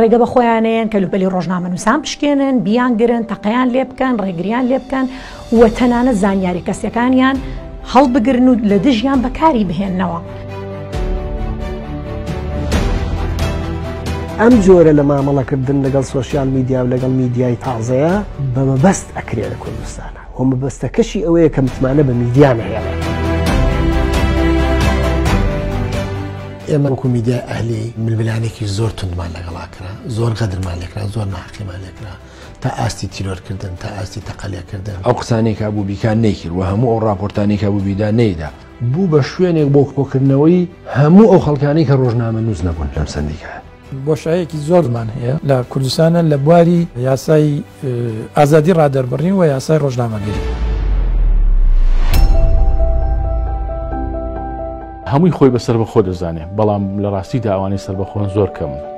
ڕێگە بە خۆیانەیەن کەلوپەلی ڕۆژنامەنووسان بشکێنن بیانگرن تەقیان لێ بکەن ڕێگریان لێ بکەن و تەنانە زانیاری کەسەکانیان هەڵبگرن و لە دژیان بەکاری بهێننەوە. ئەم جۆرە لە مامەڵەکردن لەگەڵ سوۆسیال میدیا و لەگەڵ میدیای تازەیە بە مەبەست ئەکرێ لە کوردستانە و مەبەستەکەشی ئەوەیە کە متمانە بە میدیا نهێڵێ ئێمە وەکو میدیای ئەهلی ململانێکی زۆر تونمان لەگەڵا کرا زۆر غەدرمان لێکرا زۆر ناحقیمان لێکرا تا ئاستی تیرۆرکردن تا ئاستی تەقلەکردن ئەو قسانێکا بوو بیکان نەیکرد و هەموو ئەو راپۆرتانێکا بوو بیدا نەیدا بوو بە شوێنێک بۆ کۆکردنەوەی هەموو ئەو خەڵکانەی کە ڕۆژنامەنووس نەبوون لەم سەندیکایە. بۆشایەکی زۆرمان هەیە لە کوردستانە لە بواری یاسای ئازادی ڕادەربڕین و یاسای ڕۆژنامەگەری. هەمووی خۆی بە سەربەخۆ دەزانێت بەڵام لە ڕاستیدا ئەوانەی سەربەخۆن زۆر کەمن.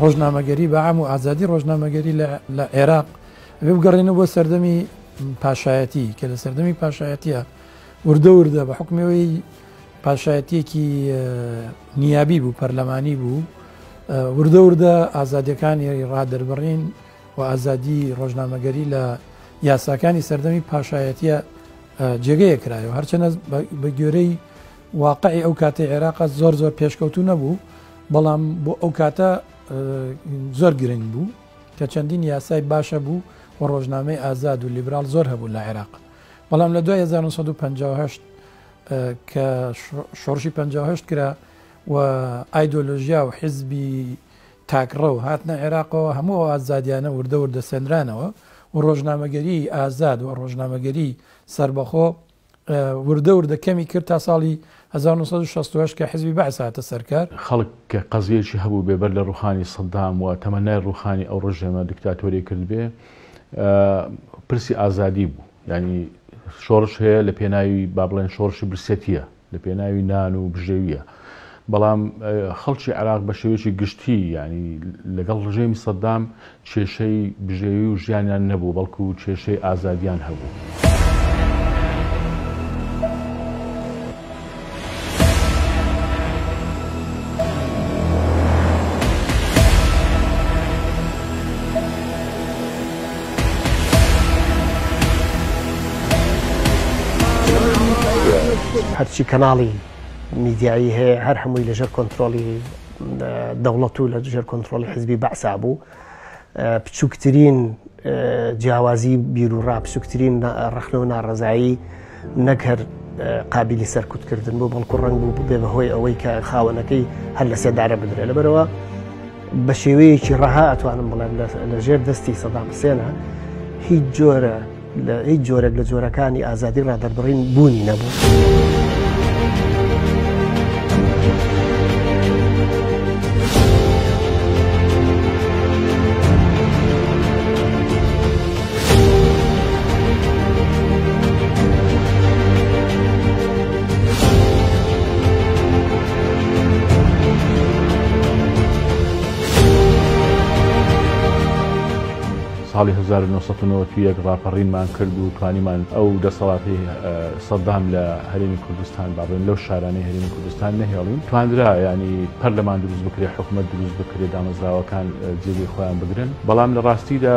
ڕۆژنامەگەری بە ئام و ئازادی ڕۆژنامەگەری لە عێراق ئەێ بگەڕێنە بۆ سەردەمی پاشایەتی کە لە سەردەمی پاشایەتە وردە وردە بە حکمەوەی پاشایەتێکی نیابی بوو پەرلەمانی بوو وردە وردە ئازادەکانی ڕادەربڕین و ئازادی ڕۆژنامەگەری لە یاساکانی سەردەمی پاشایەتیە جێگەیە کرایەوە هەرچەنە بە گوێرەی واقعی ئەو کاتی عێراق زۆر زۆر پێشکەوتو نەبوو بەڵام بۆ ئەو کاتە زۆر گرنگ بوو کە چەندین یاسای باشە بوو و ڕۆژنامەی ئازاد و لیبرال زۆر هەبوو لە عێراق بەڵام لە 1950 کە شۆڕشی 5 کرا و ئایدۆلۆژیا و حزبی تاکڕەو هاتنە عێراقەوە، هەموو ئەو ئازادیانە وردە وردە سەندرانەوە و ڕۆژنامەگەریی ئازاد و ڕۆژنامەگەریی سەربەخۆ وردە وردە کەمی کرد تا ساڵی هەزار و نۆ سەد و شەست و هەشت کە حیزبی بەعس هاتە سەر کار. خەڵک کە قەزیەیەکی هەبوو بێ بەر لە ڕووخانی سەددام و تەمەنای ڕووخانی ئەو ڕژێمە دیکتاتۆریە کرد بێ پرسی ئازادی بوو. یانی شۆڕش هەیە لە پێناوی با بڵێن شۆڕشی برسێتیە. لە پێناوی نان و بژێویە. بەڵام خەڵکی عێراق بە شێوەیەکی گشتی یعنی لەگەڵ ڕژێمی سەددام کێشەی بژێوی و ژیانیان نەبوو بەڵکو و کێشەی ئازادیان هەبوو. هەرچی کەناڵی میدیایی هەیە هەر هەمووی لەژێر کۆنتترۆلی دەوڵەت و لە دژێر کۆنتترۆلی حزبی بەعسا بوو بچووکترین جیاوازی بیر و ڕاپسوکترین ڕخنە و ناڕزایی نەک هەر قابیلی سەرکوت کردن بۆ بەڵکو ڕنگ بوو ببێ بەهۆی ئەوەی کە خاوەنەکەی هەر لە سێدارە بدرێت لەبەرەوە بە شێوەیەکی ڕەها ئەتوانم بڵێم لە ژێر دەستی سەدام حسێنە هیچ جۆرە لە هیچ جۆرێک لە جۆرەکانی ئازادی ڕادەربڕین بوونی نەبوو. ساڵی 1991 ڕاپەڕینمان کرد و توانیمان ئەو دەسەڵاتی سەدام لە هەرێمی کوردستان باڵێن لەو شارانەی هەرێمی کوردستان نەهێڵین تواندرا ینی پەرلەمان دروست بکرێت حکوومەت دروست بکرێت دامەزراوەکان جێگەی خۆیان بگرن بەڵام لە ڕاستیدا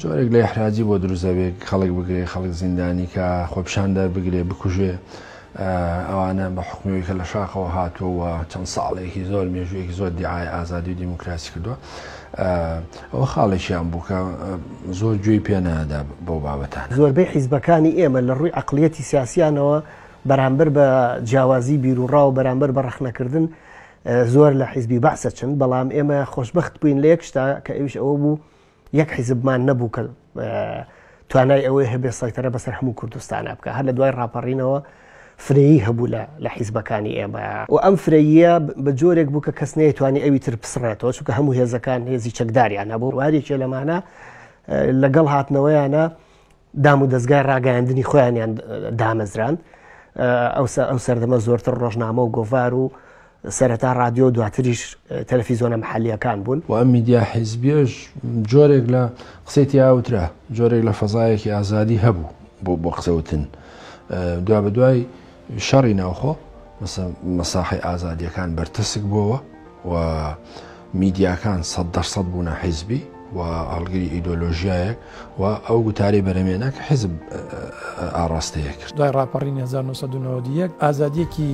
جۆرێک لە ئیحراجی بۆ دروست دەبێت خەڵک بگرێ خەڵک زیندانی کا خۆپشاندەر بگرێ بکوژێ ئەوانە بە حکومەوەی کە لە شاخەوە هاتووە چەند ساڵێکی زۆر مێژوویەکی زۆر دیعاای ئازادی و دیموکراسی کردووە ئەوە خاڵێکیان بوو کە زۆر گوێی پێنادا بۆ بابەتان زۆربەی حیزبەکانی ئێمە لە ڕووی عقلیەتی سیاسیانەوە بەرامبەر بە جیاوازی بیرروڕاو بەرامبەر بە ڕەخنەکردن زۆر لە حیزبی بەعسە چن بەڵام ئێمە خۆشببخت بووین لە یەک شتا کە ئەوش ئەوە بوو یەک حیزبمان نەبوو کە توانای ئەوەی هەبێ سایتەرە بەسەر هەموو کوردستانە بکە هەر لە دوای ڕاپەڕینەوە فرەیی هەبوو لە لە حیزبەکانی ئێمە و ئەم فرەیە بە جۆرێک بوو کە کەس نەیتوانی ئەوی تر پسڕێتەوە چونکە هەموو هێزەکان هێزی چەکداریان هەبوو وارێکێ لەمانە لەگەڵ هاتنەوەیانە دام و دەستگای ڕاگەیاندنی خۆیانیان دامەزراند ئەوسا ئەو سەردەمە زۆرتر ڕۆژنامە و گۆڤار و سەرەتا رادیۆ دواتریش تەلەفیزۆنە محلیەکان بوون و ئەم میدیا حیزبیش جۆرێک لە قسەی ئاوترا جۆرێک لە فەزایەکی ئازادی هەبوو بۆ بۆ قسەوتن دوا بە دوای شەڕی ناوخۆ مەسە مەساحەی ئازادیەکان بەرتەسک بۆوە و میدیاکان سەد دەرسەد بوونە حیزبی و هەڵگری ئیدۆلۆژیایەک و ئەو گوتارەی بەرەمێنە کە حیزب ئاڕاستەیە کرد دوای ڕاپەڕین 1991 ئازادیەکی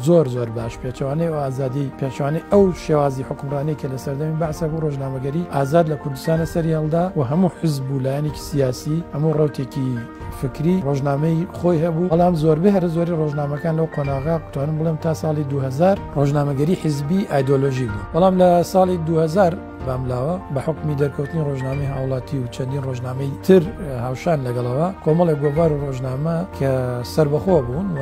زۆر زۆر باش پێچوانەی و ئازادی پێچوانەی ئەو شێوازی حکومڕانی کە لە سەردەمی بەعسە بۆ ڕۆژنامەگەری ئازاد لە کوردستانە سەری هەڵدا و هەموو حزب و لایەنێکی سیاسی هەموو ڕوتێکی فکری ڕۆژنامەی خۆی هەبوو، بەڵام زۆربەی هەرە زۆری ڕۆژنامەکان لەو قۆناغە توانم بڵێم تا ساڵی دوو هەزار ڕۆژنامەگەری حیزبی ئایدۆلۆژیک بوون، بەڵام لە ساڵی دوو هەزار باملاوە بە حوکمی دەرکەوتنی ڕۆژنامەی هاوڵاتی و چەندین ڕۆژنامەی تر هاوشان لەگەڵەوە کۆمەڵێک گۆڤار و ڕۆژنامە کە سەربەخۆ بوون و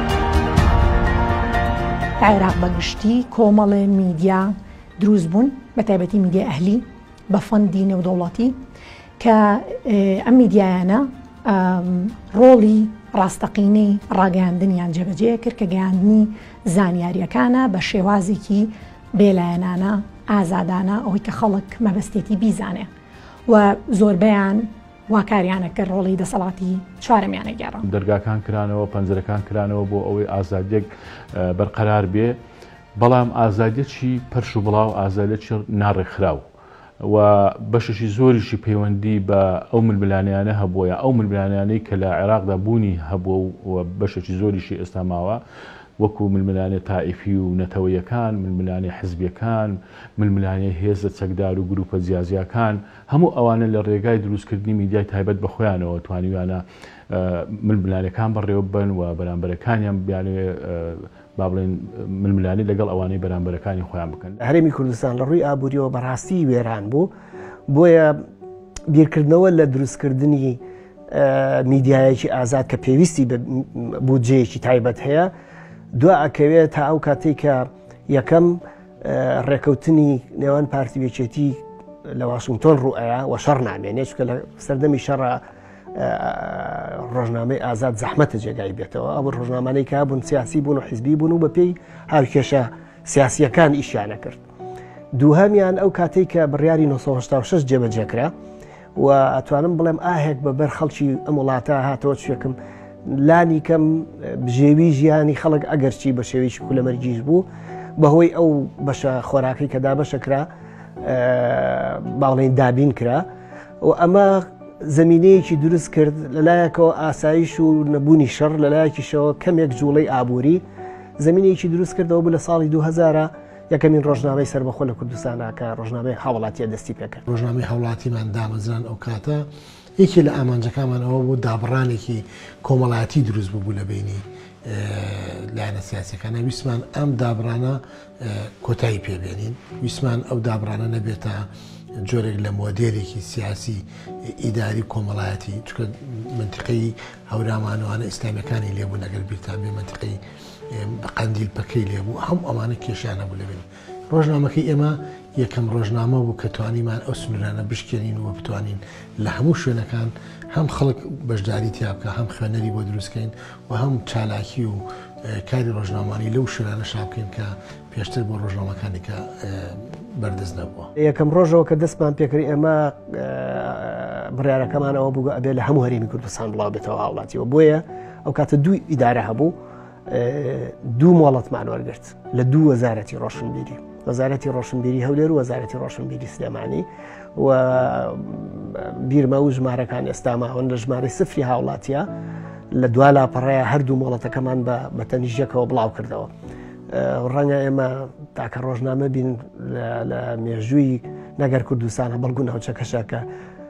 عێراق بە گشتی کۆمەڵێ میدیا دروست بوون بە تایبەتی میدیای ئەهلی بە فەندی نێودەوڵاتی کە ئەم میدیایانە ڕۆڵی ڕاستەقینەی ڕاگەیاندنیان جێبەجێ کرد کە گەیاندنی زانیاریەکانە بە شێوازێکی بێلایەنانە ئازادانە ئەوەی کە خەڵک مەبەستێتی بیزانێ و زۆربیان وا کاریانە کە ڕۆڵی دەسەڵاتی چوارەمیانە گێڕا. دەرگاکان کرانەوە، پەنجرەکان کرانەوە بۆ ئەوەی ئازادیەک بەرقەرار بێ، بەڵام ئازادیەکی پەرش و بڵاو، ئازادیەکی ناڕێکخراو و بەشێکی زۆریشی پەیوەندی بە ئەو ململانێیانە هەبووە یا ئەو ململانێیانەی کە لە عێراقدا بوونی هەبووە و بەشێکی زۆریشی ئێستا ماوە، وەکوو ململانێ تائیفی و نەتەوەیەکان، ململانێ حزبیەکان، ململانێ هێزە چەکدار و گرووپە جیاجیاکان. هەموو ئەوانە لە رێگای دروستکردنی میدیای تایبەت بە خۆیانەوە توانیویانە ململانێکان بەڕێوەببەن و بەرامبەرەکانیان بیانەوێت با بڵێن ململانێ لەگەڵ ئەوانەی بەرامبەرەکانی خۆیان بکەن. هەرێمی کوردستان لە رووی ئابوورییەوە بە راستی وێران بوو، بۆیە بیرکردنەوە لە دروستکردنی میدیایەکی ئازاد کە پێویستی بە بودجەیەکی تایبەت هەیە دوا ئەکەوێت تا ئەو کاتەی کە یەکەم ڕێکەوتنی نێوان پارتی وێچێتی لە واشنگتۆن ڕوئەیە و شەڕ نامێنێ چکە لە سەردەمی شەڕ ڕۆژنامەی ئازاد زەحمەتە جێگای بێتەوە ئەو ڕۆژنامانەی کا بوون سیاسی بوون و حیزبی بوون و بە پێی هاوکێشە سیاسیەکان ئیشیانە کرد دووهمیان ئەو کاتێک کە بڕیاری 1996 جێبەجێکرا و ئەتوانم بڵێم ئاهێک بە بەر خەڵکی ئەم وڵاتە هاتەوە چێکم لانی کەم بژێوی ژیانی خەڵک ئەگەرچی بە شێویش کولەمەرگیش بوو بەهۆی ئەو بەشە خۆراکەی کە دابەشە کرا باڵێن دابین کرا و ئەمە زمینەیەکی دروست کرد لەلایەکەوە ئاسایش و نەبوونی شەڕ لەلایەکیشەوە کەمێک جوڵەی ئابووری زمینێکی دروست کردەوە بوو لە ساڵی 2000 یەکەمین ڕۆژنامەی سەربەخۆ لە کوردستانا کە ڕۆژنامەی هاوڵاتیە دەستی پێکرد. ڕۆژنامەی هاوڵاتیمان دامەزران ئەو کاتە یەکێ لە ئامانجەکانمان ئەوە بوو دابڕانێکی کۆمەڵایەتی دروست ببوو لە بینی لایەنە سیاسەکانە ویسمان ئەم دابڕانە کۆتایی پێبێنین ویسمان ئەو دابڕانە نەبێتە جۆرێک لە مۆدێرێکی سیاسی ئیداری کۆمەڵایەتی چکە منتیقی هەورامانوانە ئیسلامیەکانی لێبوو نەگەر بیرتان بێ منتیقی قەندیل پەکەی لێ بوو، هەموو ئەوانە کێشەیان هەبوو لە بینی. ڕۆژنامەکەی ئێمە یەکەم ڕۆژنامە بوو کە توانیمان ئەو سنوورانە بشکێنین و بتوانین لە هەموو شوێنەکان هەم خەڵک بەشداری تیا بکا، هەم خوێنەری بۆ دروست کەین و هەم چالاکی و کاری ڕۆژنامەوانی لەو شوێنانەشا بکەین کە پێشتر بۆ ڕۆژنامەکانی کە بەردەست نەبووە. لە یەکەم ڕۆژەوە کە دەستمان پێ کرد ئێمە بڕیارەکەمان ئەوە بوو ئەبێ لە هەموو هەرێمی کوردستان بڵاوبێتەوە هاوڵاتیەوە بۆیە ئەو کاتە دوو ئیدارە هەبوو دوو مۆڵەتمان وەرگرت لە دوو وەزارەتی ڕۆشنبیری وەزارەتی ڕۆشنبیری هەولێر و وەزارەتی ڕۆشنبیری سلێمانی و بیرمە و ژمارەکان ئێستا ماون لە ژمارە سفری هاوڵاتیە لە دوا لاپەڕەیە هەردوو مۆڵەتەکەمان بە بەتەنیژەکەەوە بڵاو کردەوە ڕەنگە ئێمە تاکە ڕۆژنامە بین لە مێژووی نەگەر کوردستانە بەڵگو ناوچەکەشەکە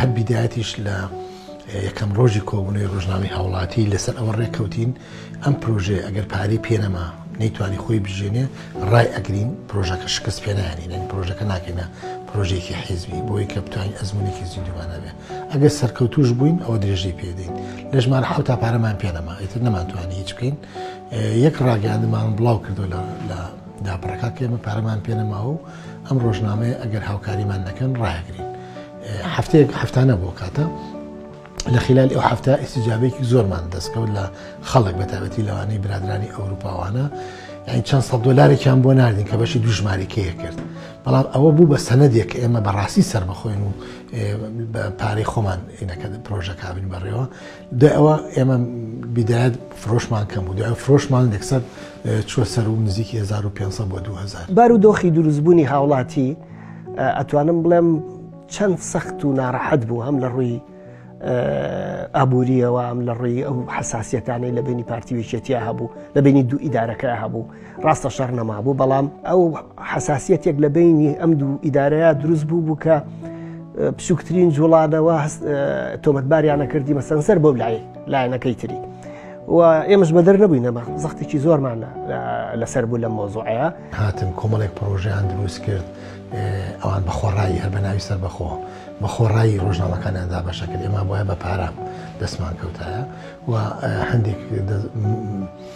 هەر بیدایەتیش لە یەکەم ڕۆژی کۆبوونەوەی ڕۆژنامەی هاوڵاتی لەسەر ئەوە ڕێککەوتین ئەم پرۆژەیە ئەگەر پارەی پێنەما نەیتوانی خۆی بژێنێ ڕای ئەگرین پرۆژەکە شکست پێنانینەن پرۆژەکە ناکەینە پرۆژێکی حیزبی بۆی کە بتوانین ئەزمونێکی زیندومانەبێ ئەگەر سەرکەوتوش بووین ئەوە درێژەی پێدەین لە ژمار حوتا پارەمان پێنەما ئیتر نەمانتوانی هیچ بکەین یەک ڕاگەاندمان بڵاو کردو لە داپەکە کێمە پارەمان پێنەماوە و ئەم ڕۆژنامەیە ئەگەر هاوکاریمان نەکەن ڕایگرین هەفتەیەک هەفتانە بۆ کاتە لە خلال ئەو هەفتە ئیسیجابێکی زۆرمان دەستکەوت لە خەڵک بە تابەتی لەوانەی برادرانی ئەوروپاوانە یعنی چەند سە دلارێکیان بۆ ناردین کە بەشی دوژمارەکەیە کرد بەڵام ئەوە بوو بە سەنەدێک ئێمە بەڕاستی سربەخۆین و پارەی خۆمان ئینەکە پرۆژەکبین بەڕێوە دوای ئەوە ئێمە بیدایەت فرۆشمان کەم بوو دوای فرۆشمان لەکسەر چوە سەر و نزیکی 1500 بۆ 2000. بارو دۆخی دروستبوونی هاوڵاتی ئەتوانم بڵێم چەند سەخت و ناڕەحەت بوو هەم لە ڕووی ئابووریەوە ئەم لە ڕووی ئەو حساسیەتانەی لە بینی پارتی وێچێتیا هەبوو لە بینی دوو ئیدارەکە هەبوو ڕاستە شەڕ نەمابوو بەڵام ئەو حساسیەتێک لە بینی ئەم دوو ئیدارەیە دروست بوو بوو کە بچووکترین جوڵانەوە تۆمەتباریانە کردی بە سەنسەر بۆ لای لایەنەکەی تری. و ئێمەش بەدەر نەبووینەمە زەختێکی زۆرمان لەسەر بوو لە مۆزۆعەیە هاتن کۆمەڵێک پرۆژیان دروست کرد ئەوان بە خۆڕایی هەر بە ناوی سەر بەخۆ بە خۆڕایی ڕۆژنامەکانیاندا بەشە کرد ئێمە بۆە بە پارە دەستمان کەوتایە و هەندێک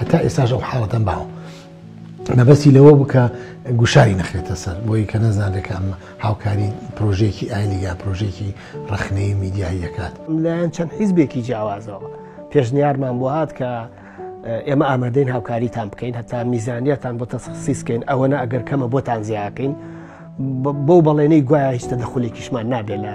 هەتا ئێستاش ئەو حاڵەتەم باوە مەبەستی لەوە بکە گوشاری نەخرێتە سەر بۆی کە نەزانێکە ئەم هاوکاری پرۆژێکی ئایلیگا پرۆژێکی ڕخنەی میدیایی دەکات لایەن چەند حیزبێکی جیاوازەوە پێشنیارمان بۆ هاات کە ئێمە ئامادەین هاوکاریتان بکەین هەتا میزانیتان بۆ تەسخصیسکەین ئەوە نە ئەگەر کەمە بۆتان زیاکەین بۆ بەڵێنەی گوایە هیچتە دەخولێکیشمان نابێت لە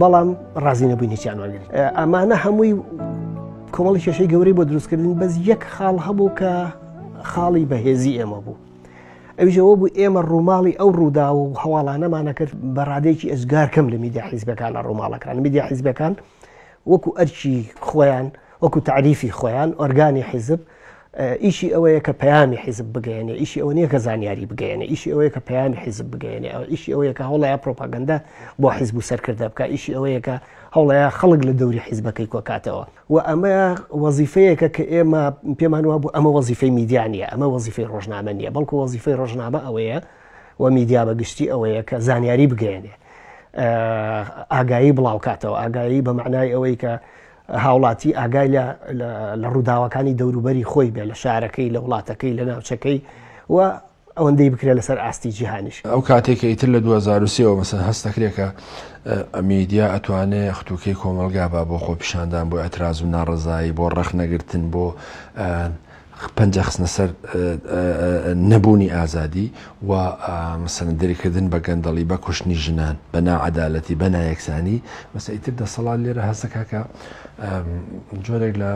بەڵام ڕازی نەبووینێکیان وەرگری ئەمانە هەمووی کۆمەڵی کێشەی گەورەی بۆ دروستکردن بەس یەک خاڵ هەبوو کە خاڵی بەهێزی ئێمە بوو ئەوژەوە بوو ئێمە ڕووماڵی ئەو ڕوودا و هەواڵانەمانە کرد بە ڕادێکی ئەزگار کەم لە میدیا حیزبەکان لە ڕووماڵەکان میدیا حیزبەکان وەکو ئەرکی خۆیان وەکو تەعریفی خۆیان ئۆرگانی حیزب ئیشی ئەوەیە کە پەیامی حیزب بگەیەنێ ئیشی ئەوە نیە کە زانیاری بگەیەنێ ئیشی ئەوەیە کە پەیامی حیزب بگەیەنێ ئەو ئیشی ئەوەیە کە هەوڵەیە پرۆپاگەندە بۆ حیزب و سەرکردە بکە ئیشی ئەوەیە کە هەوڵەیە خەڵک لە دەوری حیزبەکەی کۆکاتەوە و ئەمە وەزیفەیەکە کە ئێمە پێمان وا بوو ئەمە وەزیفەی میدیانە ئەمە وەزیفەی ڕۆژنامە نیە بەڵکو وەزیفەی ڕۆژنامە ئەوەیە و میدیا بە گشتی ئەوەیە کە زانیاری بگەێنێ ئاگایی بڵاوکاتەوە ئاگایی بە معنای ئەوەی کە هاوڵاتی ئاگای لە لە ڕووداوەکانی دەوروبەری خۆی بێ لە شارەکەی لە وڵاتەکەی لە ناوچەکەی و ئەوەندەی بکرێت لەسەر ئاستی جیهانیش ئەو کاتێکە ئیتر لە 2023ەوە مەسەن هەست دەکرێکە ئەمیدیا ئەتوانێ ختوکەی کۆمەلگا با بۆ خۆپیشاندان بۆ ئەتراز و ناڕزایی بۆ ڕەخنەگرتن بۆ پەنجە خستنە سەر نەبوونی ئازادی و مەسەلەن دەریکردن بە گەندەڵی، بە کوشتنی ژنان، بە ناعەدالەتی، بە نایەکسانی، بەس ئیتر دەسەڵات لێرە هەست دەکات کە جۆرێک لە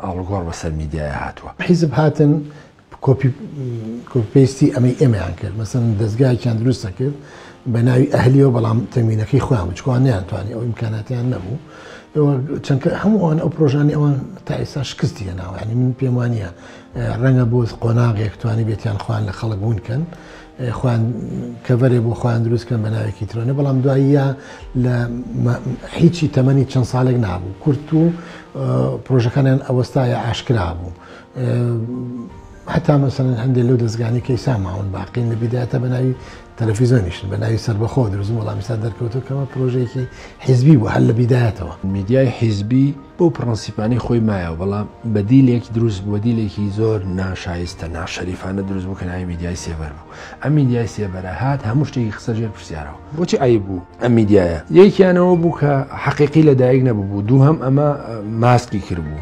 ئاڵوگۆڕ بەسەر میدیایا هاتووە. حیزب هاتن کۆپی پەیستی ئەمەی ئێمەیان کرد مەسەن دەستگایەکیان دروستە کرد بە ناوی ئەهلیەوە بەڵام تەمینەکەی خۆیان بچکوان نیانتوانانی ئەو ئیمکاناتیان نەبوو چەندکە هەمووان ئەو پرۆژانی ئەوان تا ئێستا شکستی هێناوانی من پێم وانە ڕەنگە بۆ قۆناغێک توانی بێتیان خوان لە خەڵک بوونکەن خوان کەڤەرێ بۆ خوان دروستکەن بە ناوێکی ترۆنە بەڵام دواییە لە هیچی تەمەنی چەند ساڵێک نابوو کورت و پرۆژەکانیان ئەوەستایە ئاشکرا بوو هەتا مەسەن هەندێک لەو دەستگانی کەی ساماون باقین لە بیداتا بە ناوی تەلەفیزۆنیشن بە ناوی سربەخۆ درزم وڵامیستا دەرکەوتو کەمە پرۆژێکی حیزبی بۆ هەر لە بیدایەتەوە میدیای حیزبی بۆ پرەنسیپانی خۆی مایەوە بەڵام بەدیلێک دروست بۆدیلێکی زۆر ناشایستە ناشەریفانە دروست بوو کە ناوی میدیای سێبەر بوو ئەم میدیای سێبەرە هات هەموو شتێکی قسە ژێر پرسیارەوە بۆچی ئای بوو ئەم میدیایە یەکیانەوە بوو کە حەقیقی لە دایک نەبوو دوو هەم ئەمە ماسکی کرد بوو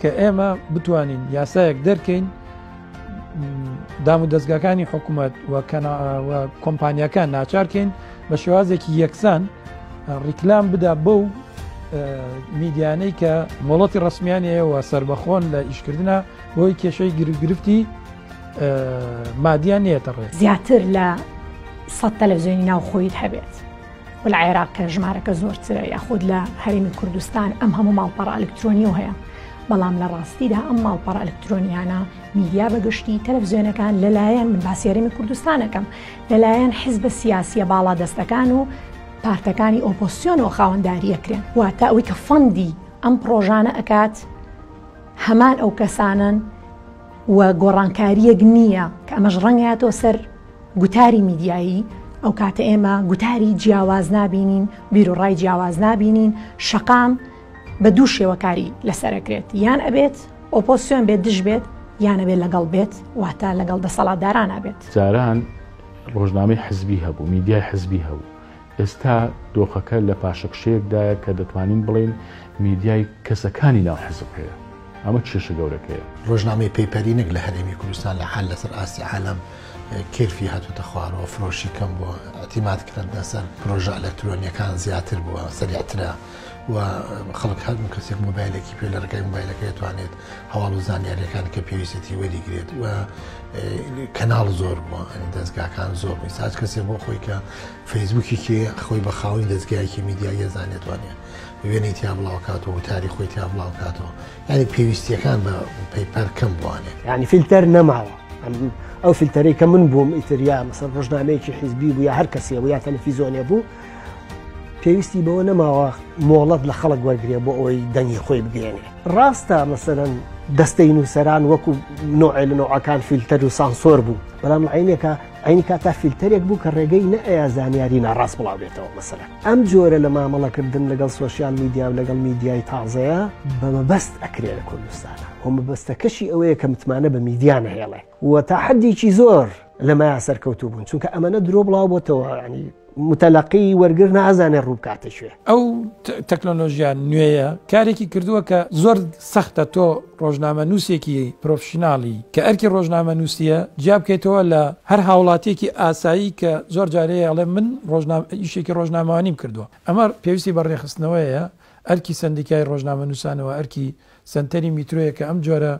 کە ئێمە بتوانین یاسایەک دەرکەین دام و دەستگاکانی حکوومەت کۆمپانیەکان ناچارکەین بە شێوازێکی یەکسان ڕیکلام بدا بە و میدیانەی کە مۆڵەتی ڕسمیانەیەوە سربەخۆن لە ئیشکردە بۆی کێشەی گرفتی مادیان نێتەڕێ زیاتر لە سە تەلەڤزیۆنی ناوخۆیت هەبێت و لە عێراق کە ژمارەکە زۆرترە یاخود لە هەرێمی کوردستان ئەم هەموو ماڵپەڕە ئەلکترۆنی و هەیە بەڵام لە ڕاستیدا ئەم ماڵپەڕە ئەلکترۆنیانە میدیا بەگشتی تەلەڤزیۆنەکان لەلایەن من باسیێرمی کوردستانەکەم لەلایەن حزبە سیاسیە باڵا دەستەکان و پارتەکانی ئۆپۆسیۆنەوە خاوەنداریەکرێن واتە ئەوەی کە فەندی ئەم پرۆژانە ئەکات هەمان ئەو کەسانن و گۆڕانکاریەک نییە کە ئەمەش ڕەنگاتەوە سەر گوتاری میدیایی، ئەوکاتە ئێمە گوتاری جیاواز نابینین، بیروڕای جیاواز نابینین، شەقام بە دوو شێوە کاری لەسەر ئەکرێت، یان ئەبێت ئۆپۆسیۆن بێت دژ بێت، یان ئەبێت لەگەڵ بێت، واتە لەگەڵ دەسەڵاتدارانا بێت. جاران ڕۆژنامەی حزبی هەبوو، میدیای حزبی هەبوو، ئێستا دۆخەکە لە پاشەکشەیەکدایە کە دەتوانین بڵێین میدیای کەسەکانی ناو حزب هەیە، ئەمە کێشە گەورەکەیە. ڕۆژنامەی پەیپەری نەک لە هەرێمی کوردستان لە حال لەسەر ئاستی عالەم کێرفی هاتۆتە خوارەوە، فرۆشی کەم بووە، ئیعتیماد کردنە سەر پرۆژە ئەلەکترۆنیەکان زیاتر بووە، سەریعترە و خەڵک هەرموو کەسێک مۆبایلێکی پێ لە ڕێگای مۆبایلەکەی ئەتوانێت هەواڵ و زانیاریەکان کە پێویستەتی وەریگرێت و کەناڵ زۆر بووە دەستگاکان زۆر بووی ساچ کەسێ بۆ خۆی کە فەیسبووکی کێ خۆی بە خاوەنی دەستگایەکی میدیایە زانێتوانێت وێنەی تیا بڵاوکاتەوە تاری خۆی تیا بڵاوکاتەوە ینی پێویستیەکان بە پەیپەر کەم بوانێت ینی فیلتەر نەماوە ئەو فیلتەرەی کە من بووم ئیتریا مەسەر ڕژنامەیەکی حیزبی بوو یا هەر کەسێ بوو یا تەلەفیزۆنێ بوو پێویستی بەوە نەماوە مۆڵەت لە خەڵک وەرگێ بۆ ئەوی دەنگی خۆی بگەێنێ ڕاستە مەسەرەن دەستەی نووسەران وەکو نوعێ لە نوعەکان فیلتەر و سانسۆر بوو بەڵام عینێکە عینی کاتا فیلتەرێک بوو کە ڕێگەی نەئەیە زانیاری ناڕاست بڵاوێتەوە مەسەرە ئەم جۆرە لە مامەڵەکردن لەگەڵ سوۆسیال میدیا و لەگەڵ میدیای تازەیە بەمەبەست ئەکرێ لە کوردستانە هۆمەبەستەکەشی ئەوەیە کە متمانە بە میدیانە هێڵێ و تا حدیکی زۆر لەمەیا سەرکەوتوو بوون چونکە ئەمەە درۆ بڵاو بۆتەوە ینی متەلقی وەرگر نازانێ ڕووبکاتە شوێ ئەو تەکنۆلۆژیان نوێیە کارێکی کردووە کە زۆر سەختە تۆ ڕۆژنامە نووسێکی پرۆفشنناڵی کە ئەرکی ڕۆژنامە نووسە جیا بکەیتەوە لە هەر هاوڵاتێکی ئاسایی کە زۆر جارەیە ئەڵێ من ڕۆژنامە ئیشێکی ڕۆژنامەوانیم کردووە ئەمە پێویستی بە ڕێخستنەوەیە ئەرکی سندیکای ڕۆژنامە نووسانەوە ئەرکی سنتەری میترۆیە کە ئەم جۆرە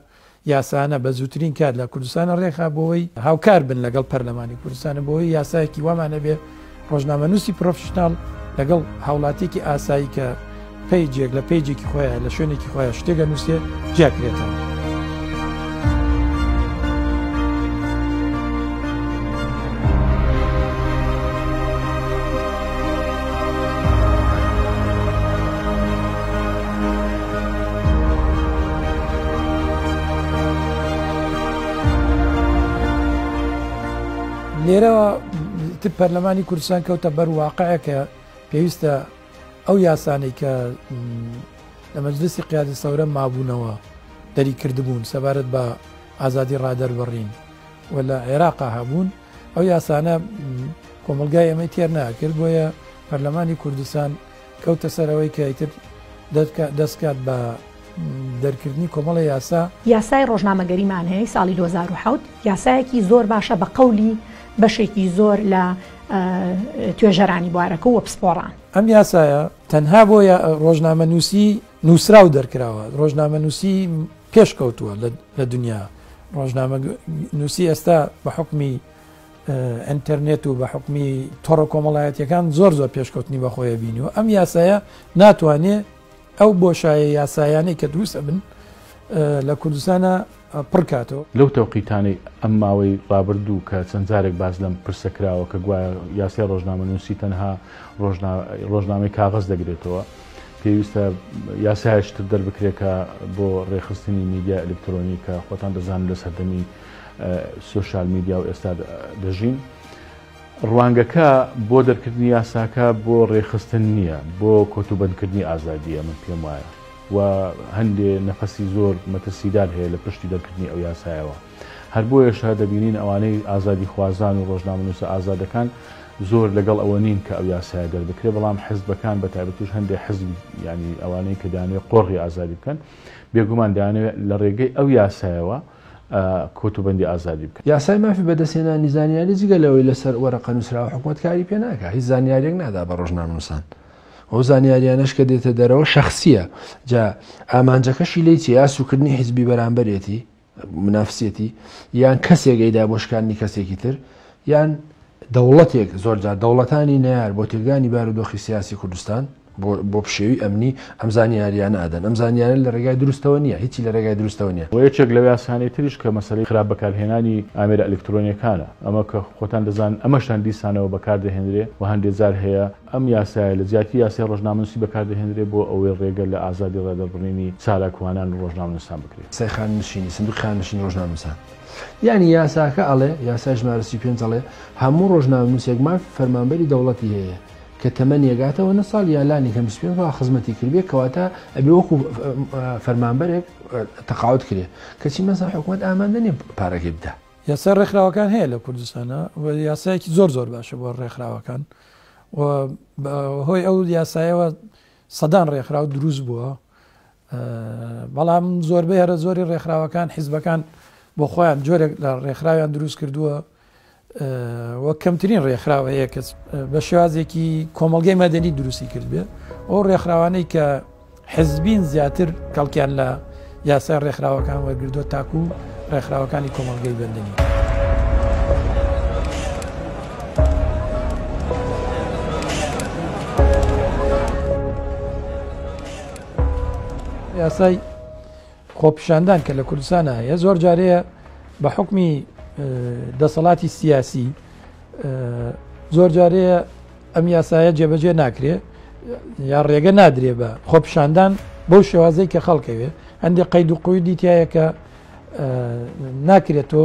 یاسانە بە زووترین کات لە کوردستانە ڕێکخا بۆوەی هاوکار بن لەگەڵ پەرلەمانی کوردستانە بۆوەی یاسایەکی وامان نەبێ ڕۆژنامەنووسی پرۆفشناڵ لەگەڵ هاوڵاتیکی ئاسایی کە پیجێک لە پیجێکی خۆیان لە شوێنێکی خۆیان شتێگە نووسێ جیاکرێتەوە. لێرەوە پەرلەمانی کوردستان کەوتە بەر واقعەکە پێویستە ئەو یاسانەی کە لە مەجلسی قیادە سەورە مابوونەوە دەری کردبوون سەبارەت بە ئازادی ڕادەربڕین و لە عێراقا هەبوون ئەو یاسانە کۆمەلگای ئەمەی تێر ناکرد بۆیە پەرلەمانی کوردستان کەوتە سەر ئەوەی کە ئیتر دەست کات بە دەرکردنی کۆمەڵە یاسا. یاسای ڕۆژنامەگەری مانەیەی ساڵی دوو هەزار و حەوت یاسایەکی زۆر باشە بە قەولی بەشێکی زۆر لە توێژەرانی بوارەکە و پسپۆڕان. ئەم یاسایە تەنها بۆ ڕۆژنامە نووسی نووسرا و دەرکراوە ڕۆژنامە نووسی پێشکەوتووە لە دنیا ڕۆژنامە نووسی ئێستا بە حکمی ئەنتەرنێت و بە حکومی تۆڕە کۆمەڵایەتەکان زۆر زۆر پێشکەوتنی بەخۆیە بینی و ئەم یاسایە ناتوانێت ئەو بۆشایە یاسایانەی کە دروست ئەبن لە کوردستانە پڕکاتەوە لەو تەوقیتانەی ئەم ماوەی ڕابردوو کە چەند جارێک باز لەم پرسە کراوە کە گوایە یاسای ڕۆژنامە نووسی تەنها ڕۆژنامەی کاغز دەگرێتەوە پێویستە یاسایشتر دەربکرێکە بۆ ڕێخستنی میدیا ئەلکترۆنی کە خۆتان دەزانن لە سەردەمی سۆشال میدیا و ئێستا دەژین ڕوانگەکە بۆ دەرکردنی یاساکە بۆ ڕێخستن نییە بۆ کۆتوبندکردنی ئازادیە من پێم وایە و هەندێ نەفەسی زۆر مەترسیدار هەیە لە پشتی دەرکردنی ئەو یاسایەوە هەر بۆ ێشە دەبینین ئەوانەی ئازادی خوازان و ڕۆژنامەنووسە ئازادەکان زۆر لەگەڵ ئەوە نین کە ئەو یاسایە دەربکرێ بەڵام حزبەکان بە تایبەتوش هەندێک حزب ینی ئەوانەی کە دانوێ قۆڕی ئازادی بکەن بێگومان دانوێ لە ڕێگەی ئەو یاسایەوە کۆتوبەندی ئازادی بکەن. یاسای مافی بەدەستهێنانی زانیاری جگە لەوەی لەسەر وەرەقە نووسراوە حکومەت کاری پێ ناکات هیچ زانیاریەک نادا بە ڕۆژنامەنووسان. ئەو زانیاریانەش کە دێتە دەرەوە شخصیە جا ئامانجەکەشی لی چی یا سوکردنی حیزبی بەرامبەرێتی منافسێتی یان کەسێکیدا بۆ شکاندنی کەسێکی تر یان دەوڵەتێک زۆرجار دەوڵەتانی نار بۆ تێکدانی بارودۆخی سیاسی کوردستان بۆ پشێوی ئەمنی ئەم زانیاریانە ئەدەن ئەم زانیارە لە ڕێگای دروستەوە نیە هیچی لە ڕێگای دروستەوە نیە. وە یەکێک لە یاسانەی تریش کە مەسەلەی خراپ بەکارهێنانی ئامێرە ئەلکترۆنیەکانە ئەمە کە خۆتان دەزانن ئەمەشتان دیسانەوە بەکار دەهێنرێ وە هەندێ جار هەیە ئەم یاسایە لە جیاتی یاسای ڕۆژنامەنوسی بەکار دەهێنرێ بۆ ئەوەی ڕێگە لە ئازادی ڕادەربڕینی چالاکوانان و ڕۆژنامەنوسان بکرێ. یاسای خانەنشینی، سندوقی خانەنشینی ڕۆژنامەنوسان، یانی یاساکە ئەڵێ، یاسای ژمارە سی و پێنج ئەڵێ هەموو ڕۆژنامەنوسێک مافی فەرمانبەری دەوڵەتی هەیە، کە تەمەنی ئەگاتەوە نە ساڵ یا لانی کەم بیست پێنج ساڵ خزمەتی کردبێت کەواتە ئەبێ وەکو فەرمانبەرێک تەقاوت کرێ کەچی مەسەر حکوومەت ئامادە نیە پارەکەی بدا یاسای ڕێکخراوەکان هەیە لە کوردستانە و یاسایەکی زۆر زۆر باشە بۆ ڕێکخراوەکان و هۆی ئەو یاسایەوە سەدان ڕێکخراو دروست بووە بەڵام زۆربەی هەرە زۆری ڕێکخراوەکان حیزبەکان بۆ خۆیان جۆرێک لە ڕێکخراویان دروست کردووە و کەمترین ڕێکخراوە هەیە کەس بە شێوازێکی کۆمەلگەی مەدەنی دروستی کردێ ئەو ڕێکخراوانەی کە حزبین زیاتر کەڵکیان لە یاسای ڕێکخراوەکان وەرگردو تاکو ڕێکخراوەکانی کۆمەلگەی بەندنی. یاسای خۆپیشاندان کە لە کوردستانە هەیە زۆر جارەیە بە حکمی دەسەڵاتی سیاسی زۆر جارەیە ئەم یاسایە جێبەجێ ناکرێ یا ڕێگە نادرێ بە خۆپیشاندان بۆ شێوازەی کە خەڵکەوێ هەندێک قەید و قویدی تایەکە ناکرێت تۆ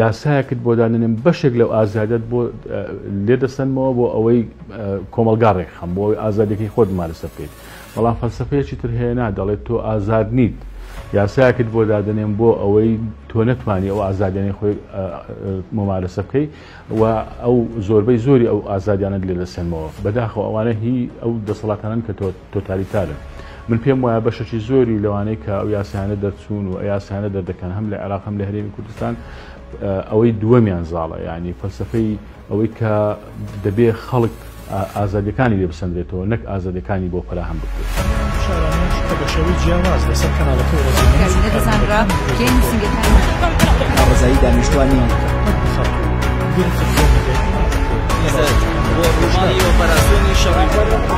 یاسایەکت بۆ دانەنێم بەشێک لەو ئازادیەت بۆ لێ دەسەنمەوە بۆ ئەوەی کۆمەلگا ڕێکخەم بۆ ئەوەی ئازادیەکەی خۆت ممارەسە بکەیت بەڵام فەلسەفەیەکی تر هەیە نا دەڵێت تۆ ئازاد نیت یاسایەکت بۆ دادەنێم بۆ ئەوەی تۆ نەتوانی ئەو ئازادیانەی خۆی ممارەسە بکەیت و ئەو زۆربەی زۆری ئەو ئازادیانت لێ دەسەنمەوە بەداخەوە ئەوانە هی ئەو دەسەڵاتانن کە تۆت تۆتالیتارە. من پێم وایە بەشەکی زۆری لەوانەی کە ئەو یاسایانە دەرچوون و ئە یاسایانە دەردەکەن هەم لە عێراق هەم لە هەرێمی کوردستان ئەوەی دووەمیان زاڵە یعنی فەلسفەی ئەوەی کە دەبێ خەڵک ئازادەکانی لێ بسەندرێتەوە نەک ئازادەکانی بۆ فراهەم بکرێت. ڕزایی دانیشتوانی ڕۆژانی ئۆپەراسیۆنی شەڕی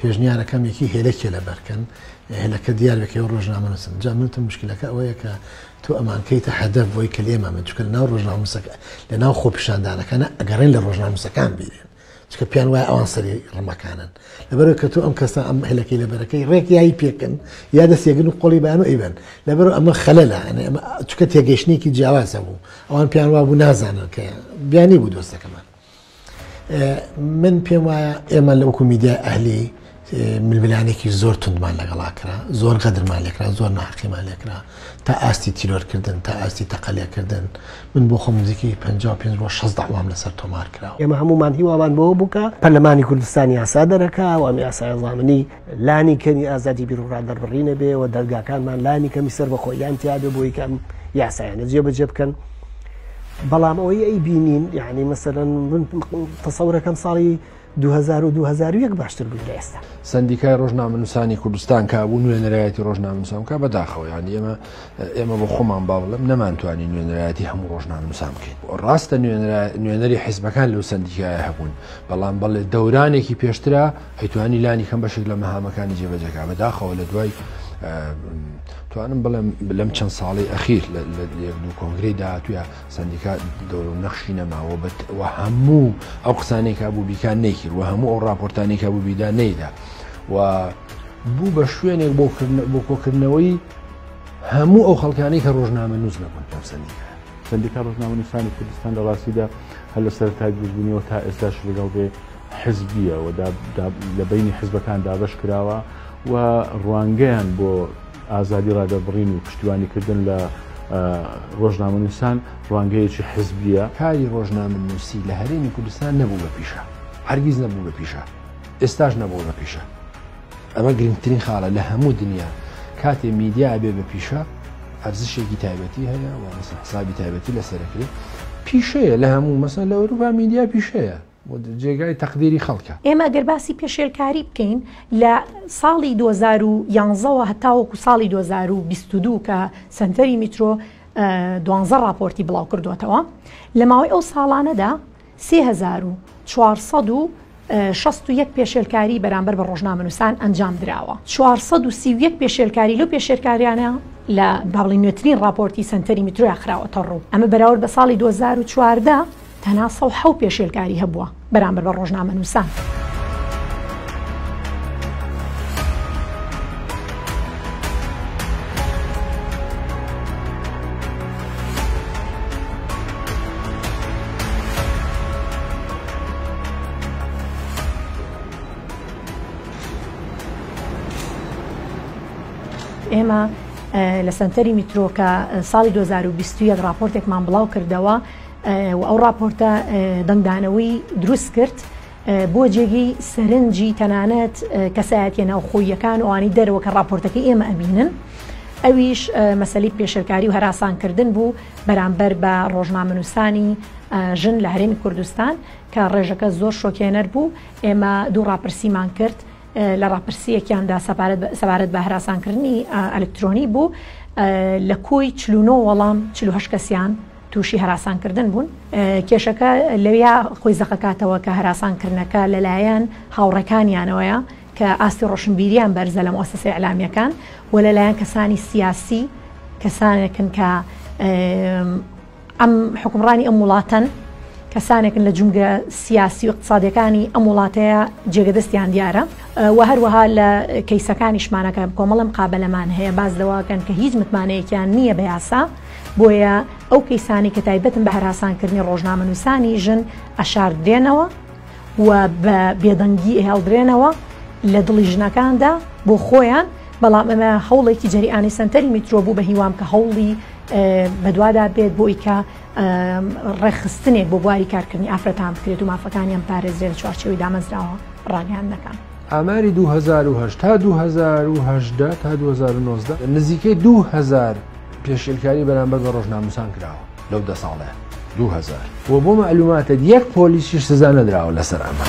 پێشنیارەکەم یەکی هێلە کێلەبەر کەن هێلەکە دیار بکەی و ڕۆژنامە نووسن جا منتم مشکلەکە ئەوەیە کە تۆ ئەمان کەیتە هەدەف بۆی کە لێمە من چکە ناو ڕۆژناموسەکە لە ناو خۆپیشاندانەکانە ئەگەڕێن لە ڕۆژناموسەکان بیرێن چکە پێیان وایە ئەوان سەری ڕمەکانن لەبەرو کە تۆ ئەم کەسە ئەم هەلەکەی لەبەرەکەی ڕێک یای پێکن یا دەستێگن و قۆڵی بەیان و ئەیبەن لەبەر ئەمە خەلەلە چکە تێگەشتێکی جیاوازە بوو ئەوان پێیان وابوو نازانن کە بیانی بوو دۆستەکەمان من پێم وایە ئێمە لە وەکو میدیای ئەهلی ململانێکی زۆر توندمان لەگەڵا کرا زۆر غەدرمان لێکرا زۆر ناحقیمان لێکرا تا ئاستی تیرۆرکردن تا ئاستی تەقەلێکردن من بۆ خۆم نزیکی 55 بۆ 16 داوام لەسەر تۆمار کرا ئێمە هەمومان هیوامان بۆ بووکە پەرلەمانی کوردستان یاسا دەرەکە و ئەم یاسایە زامنی لانی کەمی ئازادی بیرڕا دەربڕینە بێ و دەرگاکانمان لانی کەمی سەر بە خۆیان تیاێ بۆی کەم یاسایانە جێ بەجێ بکەن بەڵام ئەوەی ئەی بینین یعنی مەسەرەن من تەسەورەکەم ساڵی 2021 باشتر بوو لە ئێستا سندیکای ڕۆژنامەنووسانی کوردستان کا بوو نوێنەرایەتی ڕۆژنامەنووسان کا بەداخەوە یانی ئێمە ئێمە بۆ خۆمان با بڵم نەمانتوانی نوێنەرایەتی هەموو ڕۆژنامەنووسان بکەین ڕاستە نوێنەری حیزبەکان لەو سندیکایە هەبوون بەڵام بەڵێ دەورانێکی پێشترا ئەیتوانی لانی کەم بەشێک لە مەهامەکانی جێبەجێکا بەداخەوە لە دوای توانم بڵێم لەم چەند ساڵی ئەخیر لە کۆنگری داهاتوە سندیکا دەورو نەخشی نەماوە بە هەموو ئەو قسانێکا بوو بیکان نەیکرد و هەموو ئەو راپۆرتانێکا بوو بیدا نەیدا و بوو بە شوێنێک بۆ بۆ کۆکردنەوەی هەموو ئەو خەڵکانی کە ڕۆژنامە نووس نەبوون لەم سندیکا سندیکا ڕۆژنامە نووسانی کوردستان لە ڕاستیدا هەر لە سەرتای دروستبوونیەوە تا ئێستاش لەگەڵ بێ حزبیە و لە بەینی حزبەکان دابەش کراوە و ڕوانگەیان بۆ ئازادی ڕادەربڕین و پشتیوانی کردن لە ڕۆژنامەنووسان ڕوانگەیەکی حزبیە. کاری ڕۆژنامەنووسی لە هەرێمی کوردستان نەبوو بە پیشە، هەرگیز نەبوو بە پیشە، ئێستاش نەبووە بە پیشە. ئەمە گرنگترین خاڵە لە هەموو دنیا، کاتێ میدیا ئەبێ بە پیشە، ئەرزشێکی تایبەتی هەیە و مەسەڵەن حسابی تایبەتی لەسەر ئەکرێ، پیشەیە لە هەموو مەسەڵەن لە ئەوروپا میدیا پیشەیە. جێگای تەقدیری خەڵکە. ئێمە گەر باسی پێشێلکاری بکەین لە ساڵی دوو هەزار و یازدە وە هەتاوەکو ساڵی دوو هەزار و بیست و دوو کە سەنتەری میترۆ دوانزە ڕاپۆرتی بڵاو کردووەتەوە لە ماوەی ئەو ساڵانەدا سێ هەزار و چوار سەد و شەست و یەک پێشێلکاری بەرامبەر بە ڕۆژنامەنووسان ئەنجام دراوە چوار سەد و سی و یەک پێشێلکاری لەو پێشێلکاریانە لە باڵی نوێترین ڕاپۆرتی سەنتەری میترۆیا خراوەتە ڕوو ئەمە بەراورد بە ساڵی دوو هەزار و چواردە تەنها سەد و حەوت پێشێلکاری هەبووە بەرامبەر بە ڕۆژنامەنووسان. ئێمە لە سەنتەری میترۆکە ساڵی 2021 راپۆرتێکمان بڵاو کردەوە و ئەو ڕاپۆرتە دەنگدانەوەی دروستکرد بۆ جێگەی سەرنجی تەنانەت کەسایەتیە ناوخۆییەکان و ئەوانی دەرەوە کە ڕاپۆرتەکەی ئێمە ئەبینن ئەویش مەسەلی پێشلکاری و هەراسانکردن بوو بەرامبەر بە ڕۆژنامەنووسانی ژن لە هەرێمی کوردستان کە ڕێژەکە زۆر شۆکێنەر بوو ئێمە دوو ڕاپرسیمان کرد لە ڕاپرسیەکیاندا سەبارەت بە هەراسانکردنی ئەلکترۆنی بوو لە کۆی چلونۆ وەڵام چلوهشت کەسیان تووشی هەراسانکردن بوون، کێشەکە لەوێیا خۆی زەقەکاتەوە کە هەراسانکردنەکە لەلایەن هاوڕێکانیانەوەیە کە ئاستی ڕۆشنبیریان بەرزە لە موئەسەسە ئیعلامییەکان و لەلایەن کەسانی سیاسی کەسانێکن کە ئەم حکومڕانی ئەم وڵاتەن کەسانێکن لە جومگە سیاسی و اقتصادەکانی ئەم وڵاتەیە جێگەدەستیان دیارە و هەروەها لە کەیسەکانیشمانەکە کۆمەڵم قابلەمان هەیە باز لەواکەن کە هیچ متمانەیەکیان نییە بە یاسا بۆیە ئەو کەیسانەی کە تایبەتن بە هەراسانکردنی ڕۆژنامەنووسانی ژن ئەشاردرێنەوە و بە بێدەنگی ئەهێڵدرێنەوە لە دڵی ژنەکاندا بۆ خۆیان بەڵام ئەمە هەوڵێکی جەریانی سنتەری میترۆ بوو بە هیوام کە هەوڵی بەدوادا بێت بۆی کە ڕێخستنێک بۆ بواری کارکردنی ئافرەتان بکرێت و مافەکانیان پارێزرێت لە چوارچەوەی دامەزراوە ڕاگەیان دەکەن. ئاماری 2010 تا 2010 تا 2019 نزیکەی 2000 پێشێلکاری بەرامبەر بە ڕۆژناموسان کراوە لەو دە ساڵێ دوهزار و بۆ مەعلوماتت یەک پۆلیسیش سزا نەدراوە لەسەر ئەمە.